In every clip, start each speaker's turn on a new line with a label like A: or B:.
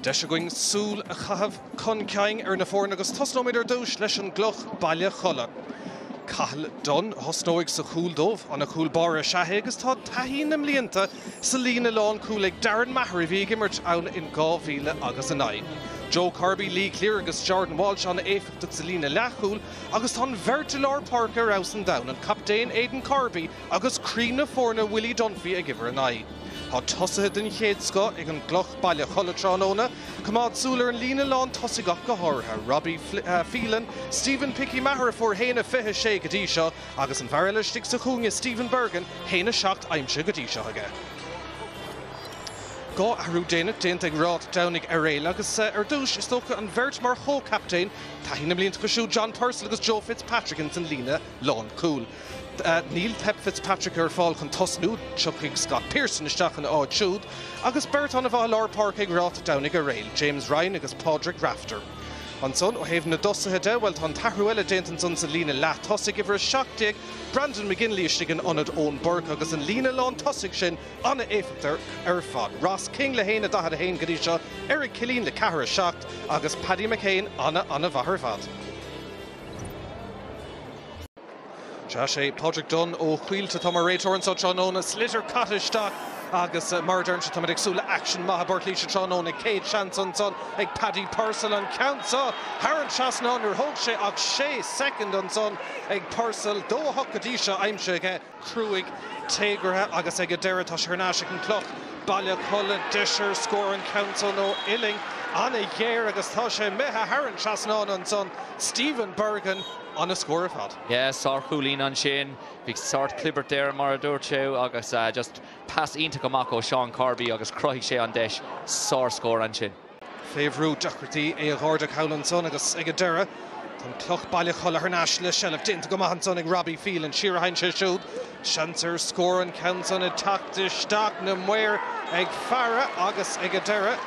A: Deis againn súil a chaitheamh chun cinn ar na foirne agus tosnóimid ar dtús leis an gCloch, Baile Cholla. Cathal Dunne a thosnóidh sa chúl dóibh. An-chúl báire is ea é agus tá taithí na mblianta sa líne lánchúil ag Darren Maher a bhí ag imirt ann in 2000 agus a naoi, Joe Corby, Lee Cleere agus Jordan Walsh an-éifeachtach sa líne leathchúil agus tá an bheirt i lár páirce ar fheabhas an domhain, an captaen Aidan Corby Agus croí na foirne Willie Dunphy ag uimhir a naoi, tá tosaithe den chéad scoth ag an gCloch, Baile Cholla tráthnóna. Coimeád súil ar an líne lán tosaigh ach go háirithe, Robbie Phelan, Stephen 'Picky' Maher a fuair haon a fiche a sé go dtí seo agus an fear eile istigh sa chúinne, Stephen Bergin, haon a seacht aimsithe go dtí seo aige. Dhá athrú déanach déanta ag Ráth Domhnaigh Eiréil agus, ar dtús, is dócha, an bheirt mar chomhchaptaen, taithí na mblianta acu siúd, John Purcell agus Joe Fitzpatrick, ins an líne lánchúil. Níl Pep Fitzpatrick ar fáil chun tosnú, tiocfaidh Scott Pearson isteach ina áit siúd agus beirt ana-mhaith i lár páirce ag Ráth Domhnaigh Eiréil, James Ryan agus Pádraig Rafter. Ansan, ó thaobh na dtosaithe de, bhuel, tá an t-athrú eile déanta ansan sa líne leath tosaigh, uimhir 17, Brandon McGinley istigh in ionad Eoin Bourke agus an líne lántosaigh sin ana-éifeachtach ar fad. Ross King le haon a 41 go dtí seo, Eric Killeen le ceathair a 7 agus Paddy McCane ana-ana-mhaith ar fad. Sea, sé Pádraig Dunne ó Colt atá mar réiteoir anseo tráthnóna. Sliotar caite isteach agus eh, mar a deirimse táimid ag súil le action maith i bPort Laoise tráthnóna. Céad seans ansan ag Paddy Purcell an ceann seo thar an trasnán níor thóg sé ach sé soicind ansan ag Purcell. Dó a hocht go dtí seo aimsithe aige. cruaidh, téagartha, agus ag an deireadh tá sé thar n-ais ag an gCloch, Baile Cholla. Deis ar scór an ceann so ón uillinn an-ghéar, agus tá sé imithe thar an trasnán ansan, Stephen Bergin, an-a scór ar fad. Yes, sárchúilín ansin. Bhí sórt clibirt air mar a dúirt tú agus just pas iontach amach ó Sheán Corby agus chruthaigh sé an deis. Sárscór ansin. Faoi bhrú, deacrachtaí é a ardú thall ansan agus ag an deireadh tá an Chloch, Baile Cholla thar n-ais le seilbh déanta go maith ansan ag Robbie Phelan. Siar a théann sé siúd. Seans ar scór an ceann san ag teacht isteach. Na maoir ag faire agus ag an deireadh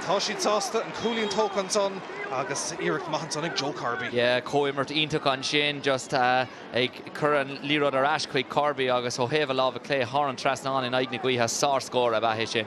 A: tá siad sásta. An cúilín tógtha ansan agus iarracht maith ansan ag Joe Corby. Comhimirt iontach ansin just ag cur an liathróid ar ais chuig Corby agus ó thaobh a láimhe clé thar an trasnán in aghaidh na gaoithe, sárscór ab ea é sin.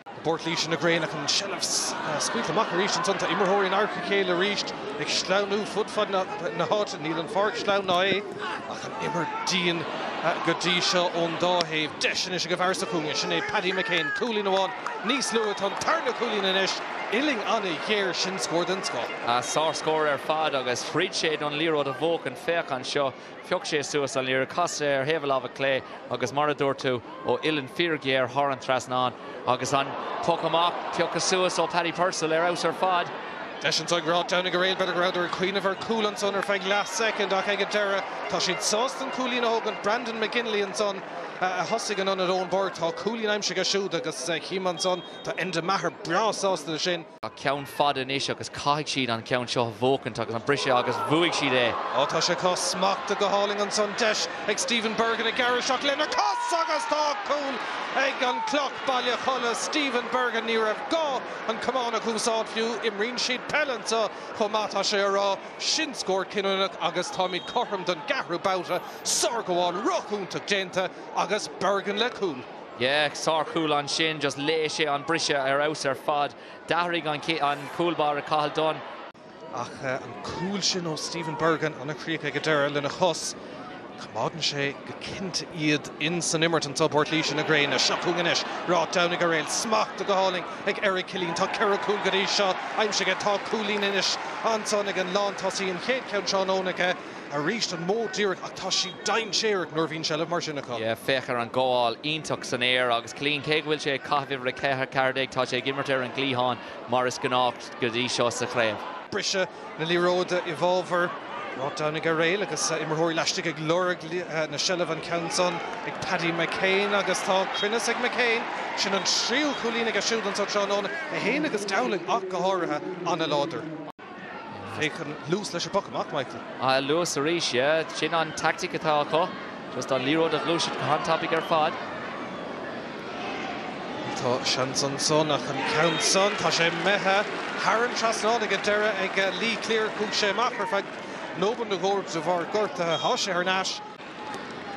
A: I bPort Laoise na gréine ach an tseilbh scaoilte amach arís ansan. Tá imreoirí in adharca a chéile arís, ag sleamhnú fud fad na háite. Níl an pháirc sleamhain ná é, ach an imirt dian go dtí seo ón dá thaobh. Deis anois ag an bhfear sa chúinne, sin é Paddy McCane. Cúilín amháin níos luaithe, tá an tarna cúilín anois uillinn an-ghéar. Sin scór den scoth. Sár-scór ar fad agus throid sé don liathróid a bhuachan. Féach anseo. Phioc sé suas an liathróid, chas sé ar thaobh a láimhe clé agus, mar a dúirt tú, ó uillinn fhíorghéar thar an trasnán agus an poc amach pioctha suas ó Paddy Purcell ar fheabhas ar fad. Deis anseo ag Ráth Domhnaigh Eiréil, b'fhéidir go rabhadar ag cuimhneamh ar chúl ansan ar feadh leath soicind ach ag an deireadh tá siad sásta an cúilín a thógaint. Brandon McGinley ansan a thosaigh in ionad Eoin Bourke. Tá cúilín aimsithe aige siúd agus chím ansan, tá Enda Maher breá sásta leis sin. Tá ceann fada anois agus caithfidh siad an ceann seo a bhuacaint agus an briseadh agus bhuaigh siad é. Ó tá sé cá smachta go hálainn ansan, deis ag Stephen Bergin ag gearradh isteach lena chos agus tá cúl ag an Cloch, Baile Cholla, Stephen Bergin ní raibh gá an camán a úsáid fiú, imríonn siad peil anseo chomh maith tá sé á rá, sin scór cinniúnach agus táimid cothrom don gceathrú babhta, sárghabháil rochúntach déanta agus Bergin le cúl. Yeah, sárchúl ansin, just léigh sé an briseadh ar fheabhas ar fad. D'athraigh an an cúl báire Cathal Dunne. Ach an cúl sin ó Stephen Bergin, an-chríoch ag an deireadh lena chos. Coimeádann sé go cinnte iad insan imirt anseo i bPort Laoise na gréine. Seo chugainn anois Ráth Domhnaigh Eiréil, smacht go hálainn ag Eric Killeen. Tá ceithre chúl go dtí seo aimsithe aige. Tá cúilín anois ansan ag an lántosaí, an chéad cheann tráthnóna aige. Aríst an modh díreach, ach tá siad dainséarach nuair a bhíonn seilbh mar sin acu. Féach ar an ngabháil iontach san aer agus Killeen, cé go bhfuil sé ag caitheamh uimhir a ceithre ceathair déag, tá sé ag imirt ar an gcliathán mar is gnách go dtí seo sa chraobh. Briseadh na liathróide i bhfabhar Ráth Domhnaigh Eiréil agus imreoirí laistigh ag lorg na seilbhe, an ceann san ag Paddy McCane agus tá cruinneas ag McCane. Sin an tríú cúilín aige siúd anseo tráthnóna, é féin agus Dowling ach go háirithe an-láidir. Féach an luas leis an bpoc amach, Michael. Ah, luas arís, yeah. Sin an tactic atá acu. Just an liathróid a ghluaiseacht go han-tapaidh ar fad. Tá seans ansan ach an ceann san, tá sé imithe thar an trasnán ag an deireadh ag Lee Cleere. Chuaigh sé amach ar feadh nóiméad nó dhó de bharr gortaithe. Tá sé thar n-ais.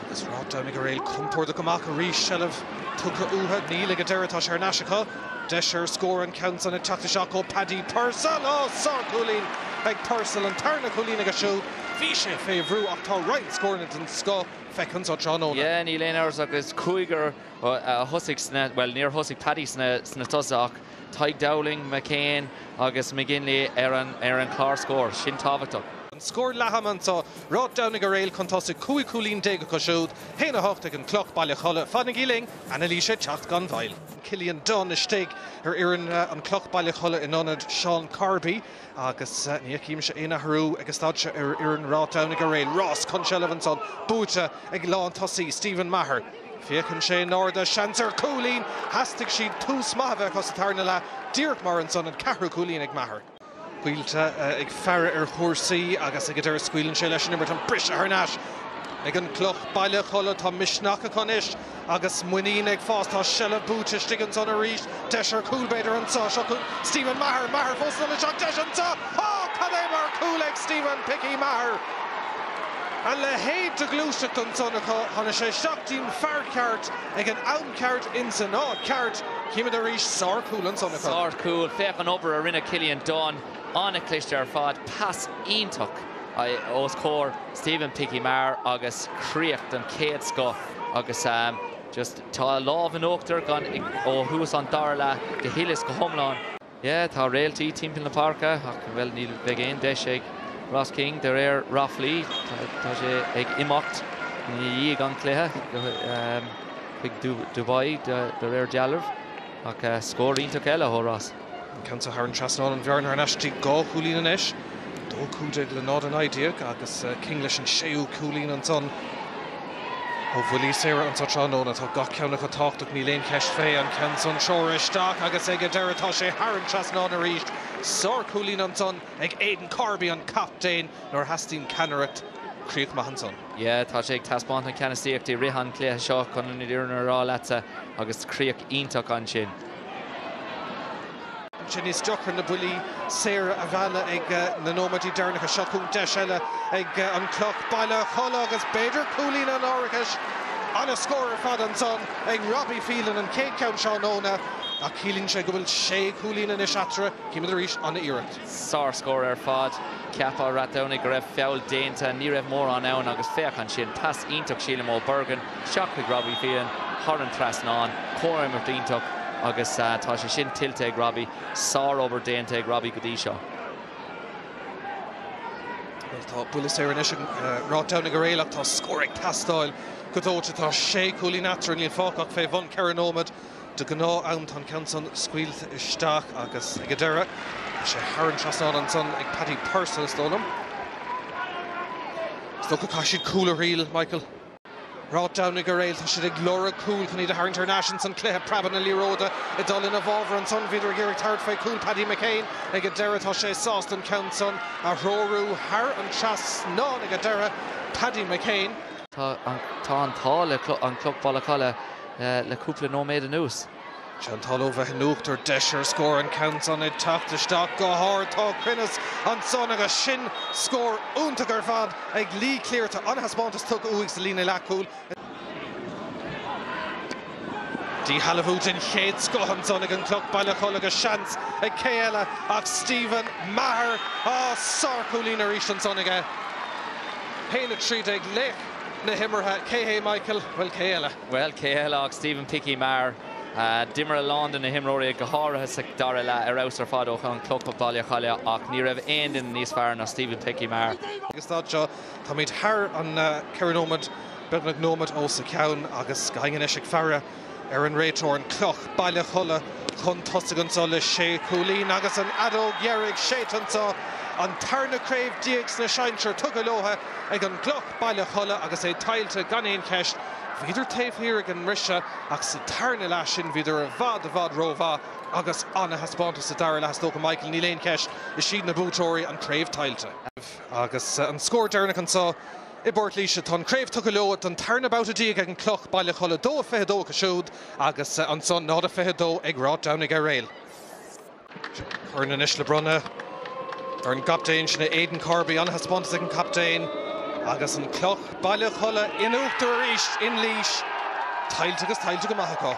A: Agus Ráth Domhnaigh Eiréil compordach amach arís, seilbh tugtha uathu, níl, ag an deireadh, tá sé ar ais acu. Deis ar scór an ceann san ag teacht isteach ó Paddy Purcell. Ó, sárchúilín ag Purcell, an tarna cúilín aige siúd. Bhí sé fé bhrú ach tá roinnt scóranna den scoth feicthe anseo tráthnóna. Níl aon amhras ach is cúigear a thosaigh sna, bhuel níor thosaigh Paddy sna tosaithe ach Tadhg Dowling, McCane agus McGinley ar an gclár scór. Sin tábhachtach. An scór leathama anseo, Ráth Domhnaigh Eiréil chun tosaigh 15 cúilín acu siúd, 1, 8 ag an gCloch, Baile Cholla. Fanaigí linn, anailís ag teacht gan mhoill. Cillian Dunne istigh ar fhoireann an Chloch, Baile Cholla in ionad Seán Corby. agus ní fheicimse aon athrú ag an staid seo ar fhoireann Ráth Domhnaigh Eiréil. Rás chun seilbh ansan, buaite ag lántosaí, Stephen Maher. Féachann sé in airde, seans ar chúilín! Theastaigh siad, tús maith a bheith acu sa tarna leath, díreach mar ansan, an ceathrú cúilín ag Maher. Coillte ag faire ar chúrsaí agus ag an deireadh scaoileann sé leis an imirt, an briseadh thar n-ais ag an gCloch, Baile Cholla. Tá misneach acu anois. Agus muinín ag fás, tá seilbh buaite istigh ansan arís. Deis ar chúl, b'fhéidir, anseo. Seo cúl Stephen Maher. Maher fós anonn isteach. Deis anseo. Á! Cad é mar chúl ag Stephen 'Picky' Maher! A leithéid de ghluaiseacht ansan acu. Tháinig sé isteach dtí'n fear ceart ag an am ceart insan áit cheart. Chímid arís, sárchúl ansan acu. Sárchúl. Féach an obair a rinne Cillian Dunne. An-chliste ar fad. Pas iontach os comhair Stephen Picky Maher agus críoch den chéad scoth agus just tá an lámh in uachtar ó thús an dara leath go huile is go hiomlán. Yeah, tá réaltaí timpeall na páirce ach, bhuel, ní bheidh aon deis ag Ross King de réir ráflaí. Tá sé ag imeacht i ndiaidh an chluiche chuig Dubai de réir dealraimh. Ach scór iontach eile ó Ross. An ceann seo thar an trasnán, an bhearna thar n-ais dtí dhá chúilín anois. 2-15 le 0-19 agus King leis an séú cúilín ansan. Ó bhuillí saora anso tráthnóna, tá gach ceann acu tábhachtach, níl aon cheist fé. An ceann san treoir isteach agus ag an deireadh tá sé thar an trasnán arís. Sár-chúilín ansan ag Aidan Corby, an captaen. nuair a theastaíonn ceannaireacht críoch maith ansan. Yea, tá sé ag taispeáint na ceannasaíochta i rith an chluiche seo, chun an fhírinne a rá leatsa, agus críoch iontach ansin. Bíonn sé níos deacra na buillí saora a mhealladh ag na nóiméidí deireanacha. Seo chugainn deis eile ag an Cloch, Baile Cholla agus b'fhéidir cúilín an árachais. An-scór ar fad ansan ag Robbie Phelan, an chéad cheann tráthnóna, ach ciallaíonn sé go bhfuil sé chúilín anois eatarthu. Chímid arís an-iarracht. Sárscór ar fad. Cheap Ráth Domhnaigh go raibh feall déanta. Ní raibh mórán ann agus féach ansin, pas iontach sílim ó Bergin isteach chuig Robbie Phelan thar an trasnán. Comhimirt iontach agus tá sé sin tuillte ag Robbie. Sárobair déanta ag Robbie go dtí seo. Bhuel, tá buille saor anois ag Ráth Domhnaigh Eiréil ach tá scór ag teastáil go dóite. Tá sé chúilín eatarthu, níl fágtha ach fé bhun ceithre nóiméad. De ghnáth-am. Tá an ceann san scaoilte isteach agus ag an deireadh. Tá sé thar an trasnán ansan ag Paddy Purcell, is dóigh liom. Is dócha caithfidh siad cúl a thriail, Michael. Ráth Domhnaigh Eiréil. Tá siad ag lorg cúl chun iad a tharraingt thar n-ais insan chluiche. Preabadh na liathróide ag dul ina bhfabhar ansan. Bhíodar ag iarraidh tabhairt fé chúl Paddy McCane ag an deireadh. Tá sé sásta an ceann san a threorú thar an trasnán ag an deireadh. Paddy McCane. Tá an t-ádh le an Cloch, Baile Cholla. le cúpla nóiméad anuas. Chantal ó bheith in uachtar, deis ar scór an ceann san ag teacht isteach go hard. Tá cruinneas ansan agus sin scór iontach ar fad ag Lee Cleere. Tá an-thaispeántas tugtha uaidh sa líne leathchúil. Díshealbhú den chéad scoth ansan ag an gCloch Baile Cholla agus seans ag cé eile ach Stephen Maher. Á, sárchúilín arís ansan aige. 1:13 le. na himeartha, cé hé Michael? Bhuel, cé eile? Bhuel, cé eile ach Stephen 'Picky' Maher. D'imir a lán de na himreoirí, go háirithe sa dara leath, ar fheabhas ar fad ó an Cloch Baile Cholla ach ní raibh aon duine níos fearr ná Stephen 'Picky' Maher. Ag an staid seo, táimid thar an 4 nóiméad, beagnach nóiméad os a chionn, agus gach éinne anois ag faire. Ar an réiteoir an Cloch, Baile Cholla chun tosaigh anseo le sé chúilín agus an fheadóg dheiridh séidte anseo, an tarna craobh déag sna sinsir tugtha leo ag an gCloch, Baile Cholla, agus é tuillte gan aon cheist. Bhíodar taobh thiar ag an mbriseadh ach sa tarna leath sin bhíodar i bhfad, i bhfad rómhaith agus an-thaispeántas sa dara leath is dócha, Michael, níl aon cheist, is iad na buaiteoirí, an craobh tuillte. Agus an scór deireanach anseo. i bPort Laoise. Tá an chraobh tugtha leo don tarna babhta déag ag an Cloch, Baile Cholla, dó a fiche dó acu siúd agus ansan náid a fiche dó ag Ráth Domhnaigh Eiréil. Corn anois le bronnadh ar an gcaptaen, sin é Aidan Corby. An-thaispeántas ag an gcaptaen agus an Cloch, Baile Cholla, in uachtar arís in Laois. Tuillte agus tuillte go maith acu.